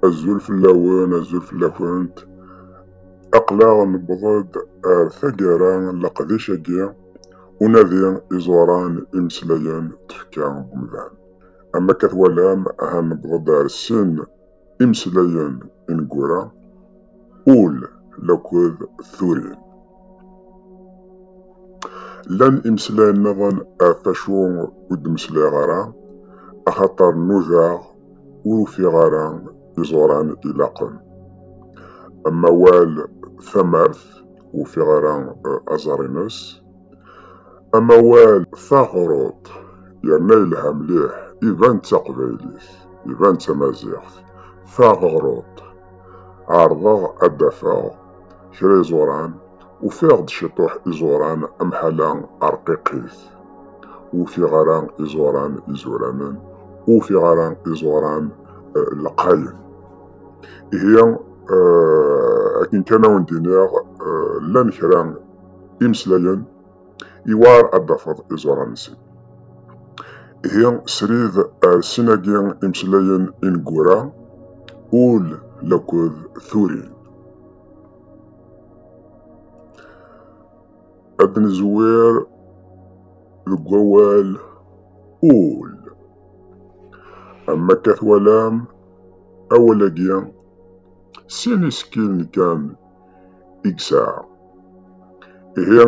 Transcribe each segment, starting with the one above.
Azul fell-awen, azul fell-akent. Aql-aɣ newweḍ-d ar taggara n leqdic-agi, unadi iẓuran imeslayen tefka n umdan. Am akka twalam, aha newweḍ-d ar sin imeslayen ineggura, ul laked turin. Llan imeslayen-nniḍen ɣef wacu ur d-meslayeɣ ara, axaṭer nudaɣ ur ufiɣ ara iẓuran ilaqen. Am awal tamart, ur ufiɣ ara eh, aẓar-ines. Am awal taɣruḍt, yerna yelha mliḥ, iban d taqbaylit, iban d tamaziɣt. Taɣruḍt, ɛerḍeɣ ad d-afeɣ kra iẓuran ufiɣ-d ciṭuḥ iẓuran amḥala arqiqit. Ufiɣ ara iẓuran izuranen, ufiɣ ara iẓuran eh, lqayen. Ihi eh, akken kan awen d-iniɣ eh, llan kra imeslayen iwar ad d-tafeḍ iẓuran-nsen. Ihi srid ar sin-agi imeslayen ineggura, ul laked turin. ad nezwir deg wawal ul am akka twalam awal-agi sin isekkilen kan i yesɛa ihi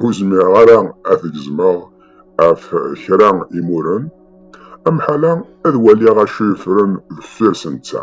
ur zmireɣ ara ad t-gezmeɣ ɣef kra imuren amḥala ad waliɣ acu yeffren deffir-s netta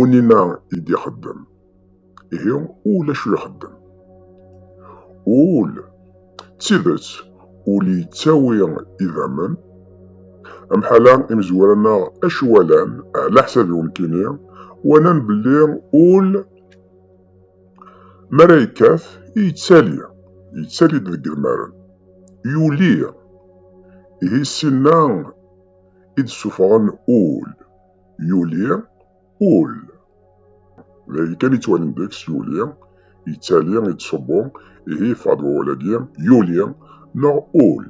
Unina i d-ixeddem. Ihi ul acu ixeddem? Ul, d tidet, ul yettawi idammen. Amḥala imezwura-nneɣ acu walan, ɛla ḥsabi nekkini, walan belli ul mi ara yekkat yettali, yettali-d deg idmaren, yuli. Ihi sin-a i d-ssuffɣen ul. yuli ul d ayen kan yettwanen deg-s yuli yettali yettṣubbu ihi yeffeɣ-d wawal-agi yuli neɣ ul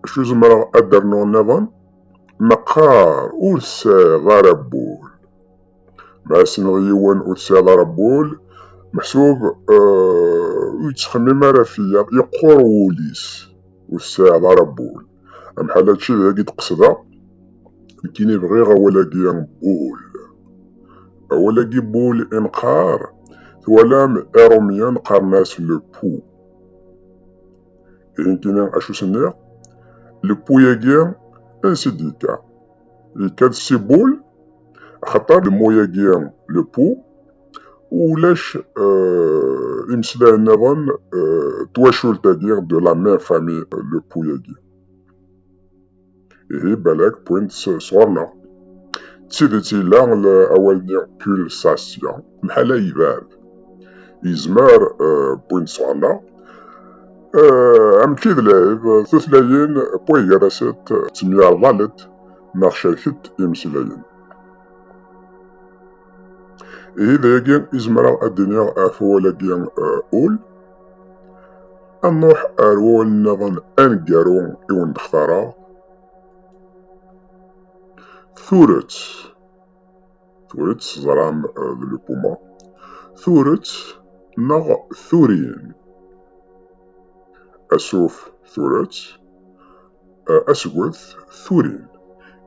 acu zemreɣ ad d-rnuɣ nniḍen meqqar ur tesɛiḍ ara wul ma tessneḍ yiwen ur tesɛiḍ ara wul meḥsub ur yettxemmim ara fell-aɣ yeqqur wul-is ur tesɛiḍ ara wul Am ḥalatči d agi d-qesdeɣ, nekkini bɣiɣ awal-agi bul. Awal-agi bul i nqar, twalam irumyen qqaren-as le pou. I nekkini acu s-nniɣ? Le pou-agi ansi d-yekka? Yekka-d si bul, axaṭer le mot-agi le pou, ulac imesdayen nniḍen twacult-agi de la même famille le puy-agi ihi balak punt sɣur-neɣ d tidet yella awal-nni pulsasya mḥala yebɛed yezmer punt sɣur-neɣ amek i d lɛib tutlayin puy gar-asent ttemyarḍalent neɣ cerkent imeslayen ihi dayagi izemreɣ ad d-iniɣ ɣef wawal-agi ul ad nruḥ ar wawal-nniḍen aneggaru i wen-d-xtareɣ turet turet teẓram d lupuma turet neɣ turin asuf turet asget turin.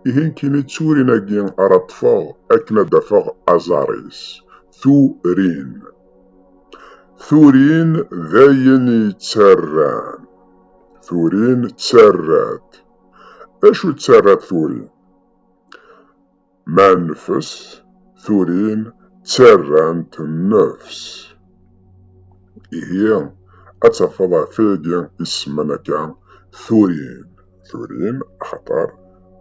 Ihi nekkini d turin-agi ara ṭṭfeɣ akken ad d-afeɣ aẓar-is. Turin. Turin d ayen yettarran. Turin ttarrat. D acu ttarrat turin? Ma nefs, turin ttarrant nnefs. Ihi, ad tafeḍ ɣef wayagi isemman akka turin. Turin, axaṭer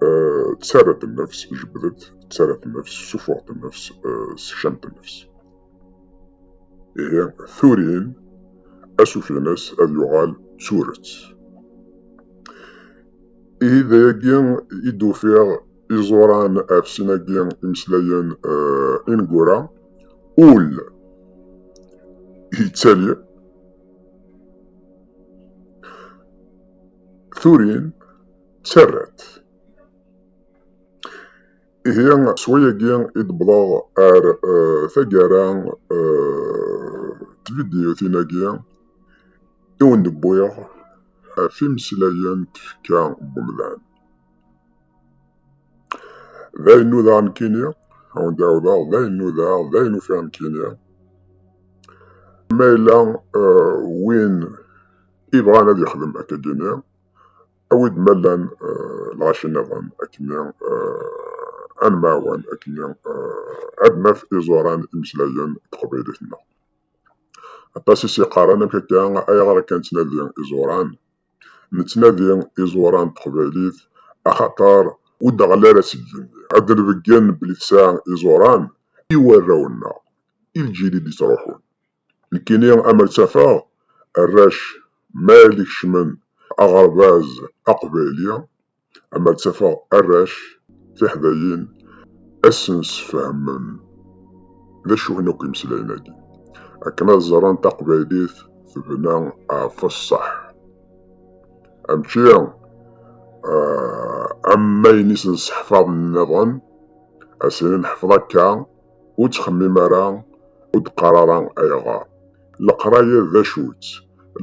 eh, ttarra-d nnefs, jebdet, ttarra-d nnefs, sufuɣ-d nnefs, eh, sekcam-d nnefs. Ihi, turin, asuf-ines ad yuɣal turet. Ihi d ayagi i d-ufiɣ iẓuran ɣef sin-agi imeslayen uh, ineggura ul yettali turin ttarrat ihi s wayagi i d-wwḍeɣ ar uh, taggara uh, tvidyutin-agi i wen-d-wwiɣ ɣef imeslayen tfekka n umdan D ayen nudaɣ nekkini, awen d-ɛawdeɣ, d ayen nudaɣ, d ayen ufiɣ nekkini. Ma yella eh, win ibɣan ad yexdem akkagi-nni, awi-d ma llan eh, lɣaci-nniḍen akkenni eh, ad nemɛawan akkenni eh, ad naf iẓuran imeslayen teqbaylit-nneɣ. Aṭas i s-yeqqaren amek akka, ayɣer akka nettnadi iẓuran? Nettnadi iẓuran n teqbaylit axaṭer ur d-ɣell ara seg yigenni. Ad d-nbeggen belli tesɛa iẓuran i warraw-nneɣ, i lǧil i d-ittruḥun. Nekkini amer tt-afeɣ, arrac ma yella kecmen aɣerbaz aqbayli, ama ttafeɣ arrac tiḥdayin asen-sfehmen d acu n akk imeslayen-agi akken ad ẓren taqbaylit tebna ɣef ṣṣeḥ amčči am mayen isen-sseḥfaḍen-nniḍen asini neḥfeḍ akka ur ttxemmim ara ur d-qqar ara ayɣer leqraya d acu-tt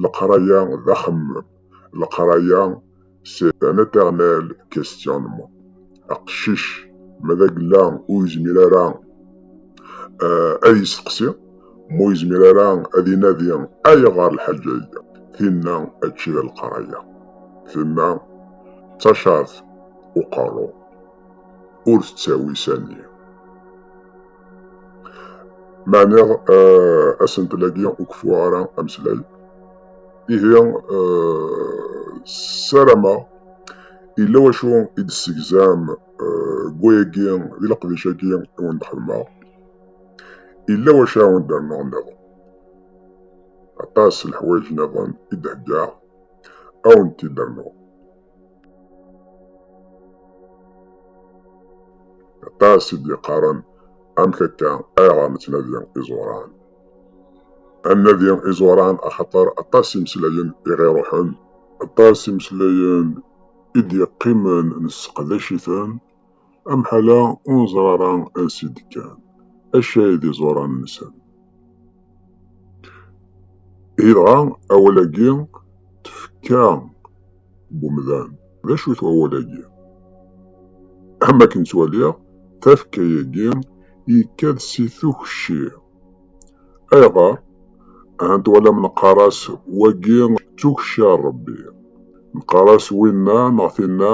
leqraya d axemmem leqraya sɛan aternal questionnement aqcic ma d agella ur yezmir ara eh, ad yesteqsi ma ur yezmir ara ad inadi ayɣer lḥaǧa-agi tinna ačči d leqraya tinna d tacart uqerru ur tettawi sani meɛna asentel-agi ur keffuɣ ara ameslay. Ihi ssarameɣ yella wacu i d-tessegzam deg wayagi, di leqdic-agi i wen-d-xedmeɣ, yella wacu ara wen-d-rnuɣ nniḍen. Aṭas n leḥwayeǧ nniḍen i d-heggaɣ, ad wen-t-id-rnuɣ. Aṭas i d-yeqqaren amek akka ayɣer nettnadi iẓuran. Ad nadi iẓuran axaṭer aṭas imeslayen i ɣ-iruḥen. Aṭas imeslayen i d-yeqqimen nesseqdac-iten. Amḥal-a ur neẓri ara ansi i d-kkan, acu ay d iẓuran-nsen. Ihi dɣa awal-agi tefka n umdan, d acu-t wawal-agi? Am wakken ttwaliɣ, tafekka-agi yekka-d si tukci. Ayɣer? Ahat twalam neqqar-as wagi d tukci n Rebbi, neqqar-as winna neɣ tinna,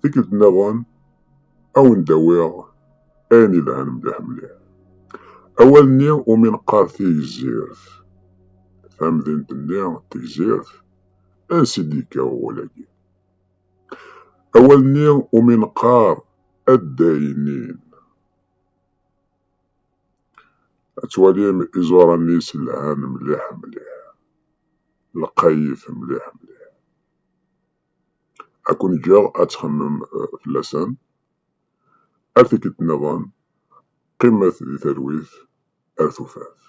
Tikkelt-nniḍen, a wen-d-awiɣ ayen yelhan mliḥ mliḥ. Awal-nni umi neqqar Tigzirt, tamdint-nni Tegzirt, ansi d-yekka wawal-agi? Awal-nni umi neqqar Addaynin, ad twalim iẓuran-is lhan mliḥ mliḥ, lqayit mliḥ mliḥ. Akk n-ǧǧeɣ ad txemmem fell-asen. Ar tikkelt nniḍen, qqimet di talwit ar tufat.